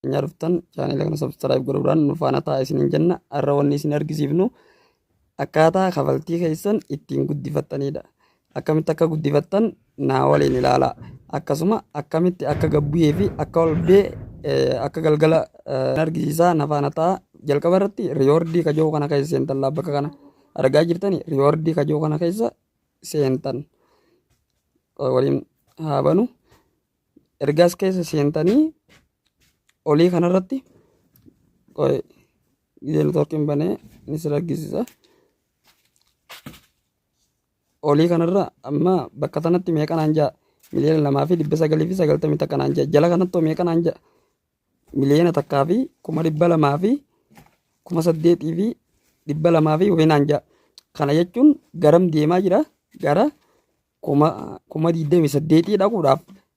keenyaa dhuftan chaanela kana sabskiraayib godhuudhaan nu faana ta'a isiniin jenna har'a wanni isin argisiifnu akkaataa kafaltii keessan ittiin guddifattanidha. Akkamitti akka guddifattan naa waliin ilaalaa. Akkasuma akkamitti akka gabbuyee fi akka olbee akka galgala argisiisaa na faana ta'a. Jalqaba irratti riyoordii kajoo kana keessa seentan laa bakka kana argaa jirtani riyoordii kajoo kana keessa seentan waliin haa banu. Ergaas keessa seentanii olii kanarratti gidee networkiin banee ni sirra argisiisa. olii kanarra amma bakka sanatti meeqa naan ja'a miliyoona lamaa fi dhibba sagalii fi sagaltamii takka naan ja'a jala kanatti hoo meeqa naan ja'a miliyoona takkaa fi kuma dhibba lamaa fi kuma saddeetii fi dhibba lamaa fi wayii naan ja'a kana jechuun garam deemaa jira gara kuma kuma digdamii saddeetii dhaquudhaaf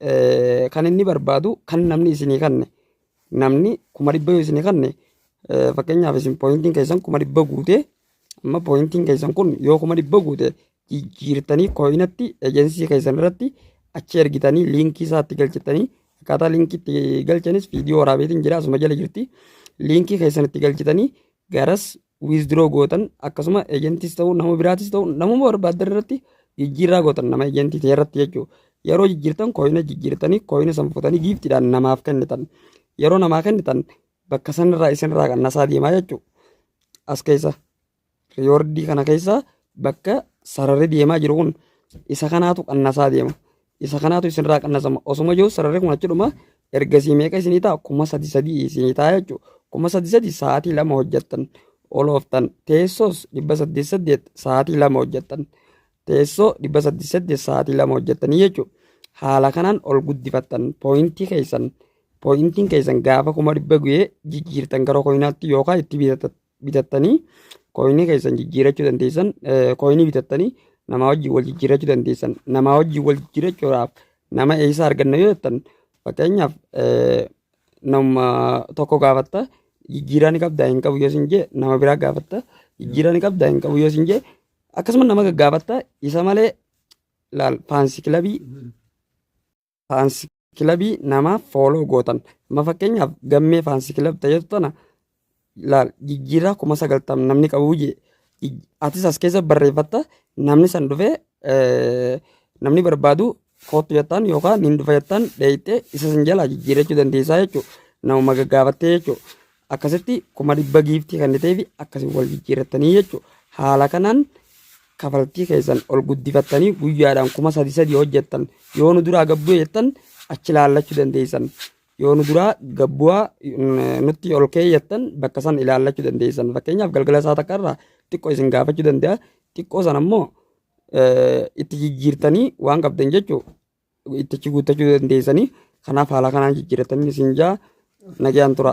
Eh, kan inni barbaadu kan namni isinii kanne namni kuma dhibba yoo isinii kanne eh, fakkeenyaaf isin pooyintiin keessan kuma dhibba guute amma pooyintiin keessan kun yoo kuma dhibba guute jijjiirtanii kooyinatti ejensii keessan irratti achi ergitanii liinkii isaatti galchitanii akkaataa liinkii itti galchanis viidiyoo waraabeetiin jira asuma jala jirti liinkii keessan itti galchitanii garas withdraw gootan akkasuma ejentis ta'u nama biraatis ta'u namuma barbaaddan irratti jijjiirraa gootan nama ejentii ta'e irratti jechuudha. Yeroo jijjiirtan kooyina jijjiirtanii kooyina san fuutanii giiftiidhaan namaaf kennitan. Yeroo namaa kennitan bakka sanirraa isinirraa qannasaa deemaa jechuudha. As keessa riyoordii kana keessa bakka sararri deemaa jiru kun isa kanaatu qannasaa deema. isa kanaatu isinirraa qannasama osuma jiru sararri kun achi dhuma ergasii meeqa isinii ta'a kuma sadi sadii isinii ta'a jechuudha kuma sadi sadii sa'aatii lama hojjettan olooftan teessoos dhibba saddeet saddeet sa'aatii lama hojjettan teessoo dhibba saddeet saddeet sa'aatii lama hojjettanii jechuudha haala kanaan ol guddifattan pooyintii keessan pooyintiin keessan gaafa kuma dhibba guyee jijjiirtan gara koyinaatti yookaan itti bitattan bitattanii kooyinii keessan jijjiirachuu dandeessan kooyinii bitattanii namaa wajjin wal jijjiirachuu dandeessan namaa wajjin wal jijjiirachuudhaaf nama eessa arganna yoo jettan fakkeenyaaf nama tokko gaafatta jijjiiraa ni qabdaa hin qabu yoo sin jee nama biraa gaafatta jijjiiraa ni qabdaa hin qabu yoo sin jee akkasuma nama gaggaafatta isa malee laal faansi kilabii faansi kilabii namaaf fooloo gootan amma fakkeenyaaf gammee faansi kilab ta'etu tana laal jijjiirraa kuma sagaltam namni qabu jee atis as keessa barreeffatta namni san dhufee namni barbaadu kootu jettaan yookaan hin dhufa jettaan dheeyxee isa san jalaa jijjiirrachuu dandeessaa jechuudha nama gaggaaffattee jechuudha. akkasitti kuma dhibba giiftii kenniteefi akkasiin wal jijjiirrattanii jechuudha. Haala kanaan kafaltii keessan ol guddifattanii guyyaadhaan kuma sadi sadi hojjettan yoo nu duraa gabbuu jettan achi ilaallachuu dandeessan. Yoo nu duraa gabbu'aa mm, nutti ol keeyyattan bakka san ilaallachuu dandeessan. Fakkeenyaaf galgala isaa takka irraa xiqqoo isin gaafachuu danda'a. Xiqqoo sana immoo eh, itti jijjiirtanii waan qabdan jechuudha. itti achi guuttachuu dandeessanii kanaaf haala kanaan jijjiiratanii isin jaa nagaan tura.